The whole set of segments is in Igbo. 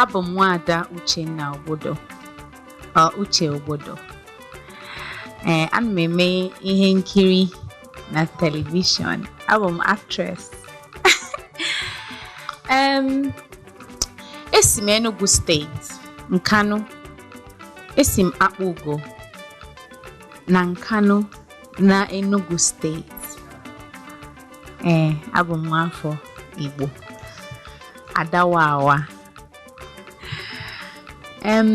abụ m nwaada Uchenna Ogbodo or Uche Ogbodo ee ana m eme ihe nkiri na telivishọn abụ m actress em esi m Enugu steeti Nkanu esi m Akpụgo na Nkanu na Enugu steeti ee abụ m nwaafọ Igbo ada Wawa em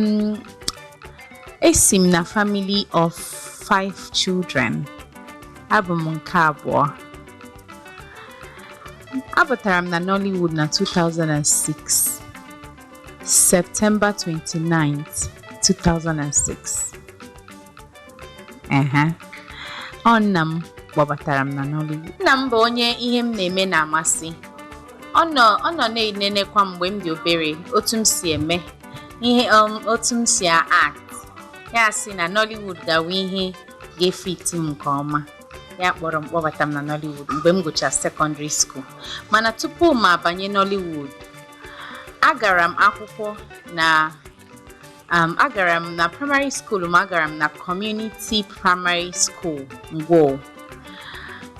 esi m na family of five children abụ m nke abụọ Abataram na Nollywood na 2006 September 29, 2006 ehe ọ nna m kpọbatara m na Nollywood nna m bụ onye ihe m na-eme na-amasị ọ nọ ọ nọ na-enenekwa m mgbe m dị obere otu m si eme ihe um, otu m si act ya sị na Nollywood ga-awụ ihe ga-efiti m nke ọma ya kpọrọ m kpọbata m na Nollywood mgbe m gụchara sekọndịrị skuul mana tupu m abanye Nollywood agara m akwụkwọ na um, agara m na praịmarị skuul m agara m na kọmuniti praịmarị skuul ngwo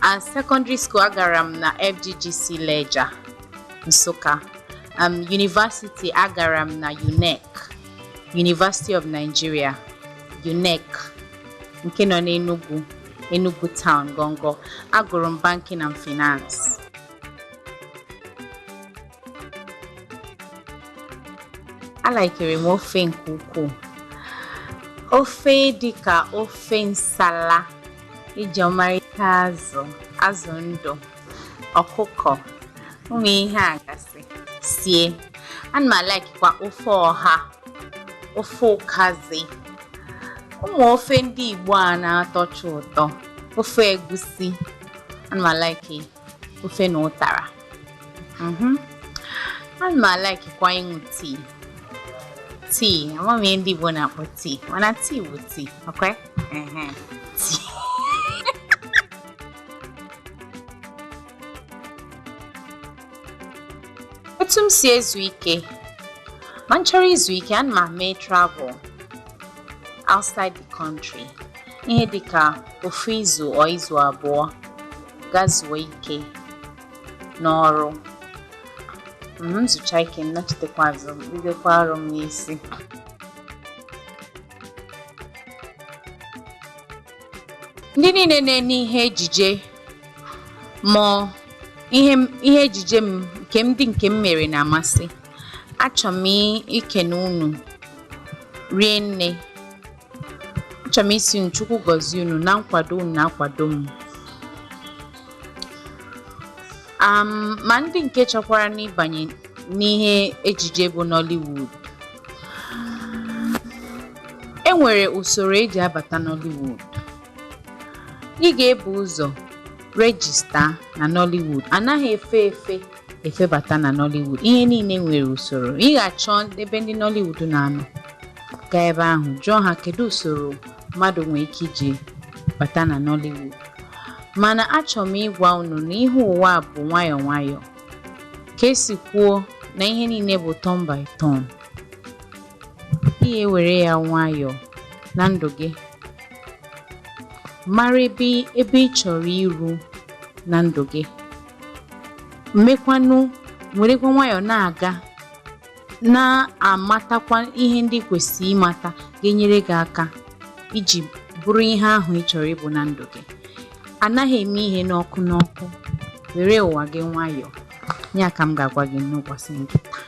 and sekọndịrị skuul agara m na fggc lejja nsụka um, yunivasiti agara m na unec university of nigeria unec nke nọ n'enugu enugu town gongo agụrụ m banking and finance alaikere m ofe nke ukwuu ofe dị ka ofe nsala e ji ọmarịcha azụ azụ ndụ ọkụkọ ụmụ ihe a gasị sie ana m alaikikwa ofe ọha ofe ụkazi ụmụ ofe ndị igbo a na-atọcha ụtọ ofe egwusi ana m alaiki ofe na ụtara mhm. ana m alaikikwa ịṅụ tii tii ama m ihe ndị Igbo na-akpọ tii mana tii bụ tii ọkwa tii otu m si ezu ike ma m chọrọ izu ike ana m eme travel outside the country ihe dịka ofu izu or izu abụọ gaa zuo ike n'ọrụ m zuchaa ike m nachitekwa azụ m bidokwa ọrụ m n'isi ndị niile na-ene ihe ejije ma ihe m- ihe ejije m nke m dị nke m mere na-amasị achọ m ikene unu rie nne Achọrọ m ịsị unu Chukwu gọzie unu na nkwado unu na-akwado m. Um, ma ndị nke chọkwaranụ ịbanye n'ihe ejije bụ Nollywood. E nwere usoro eji abata Nollywood. Ị ga-ebu ụzọ rejista na Nollywood. Anaghị efe efe efebata na Nollywood ihe niile nwere usoro ị ga-achọ ebe ndị Nollywood na-anọ gaa ebe ahụ jụọ ha kedu usoro mmadụ nwere ike iji bata na Nollywood mana achọrọ m ịgwa unu na ihe ụwa a bụ nwayọọ nwayọọ ka esi kwuo na ihe niile bụ turn by turn ị ewere ya nwayọọ na ndụ gị mara ebe ebe ị chọrọ iru na ndụ gị mmekwanụ werekwa nwayọọ na-aga na-amatakwa ihe ndị i kwesịrị ịmata ga-enyere gị aka iji bụrụ ihe ahụ ị chọrọ ịbụ na ndụ gị anaghị eme ihe n'ọkụ n'ọkụ were ụwa gị nwayọọ ya ka m ga-agwa gị n'ụbọchị nke taa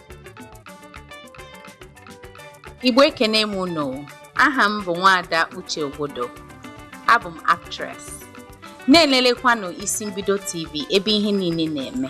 Igbo ekene m unu aha m bụ nwaada Uche Ogbodo abụ m actress na-elelekwanụ Isi Mbido TV ebe ihe niile na-eme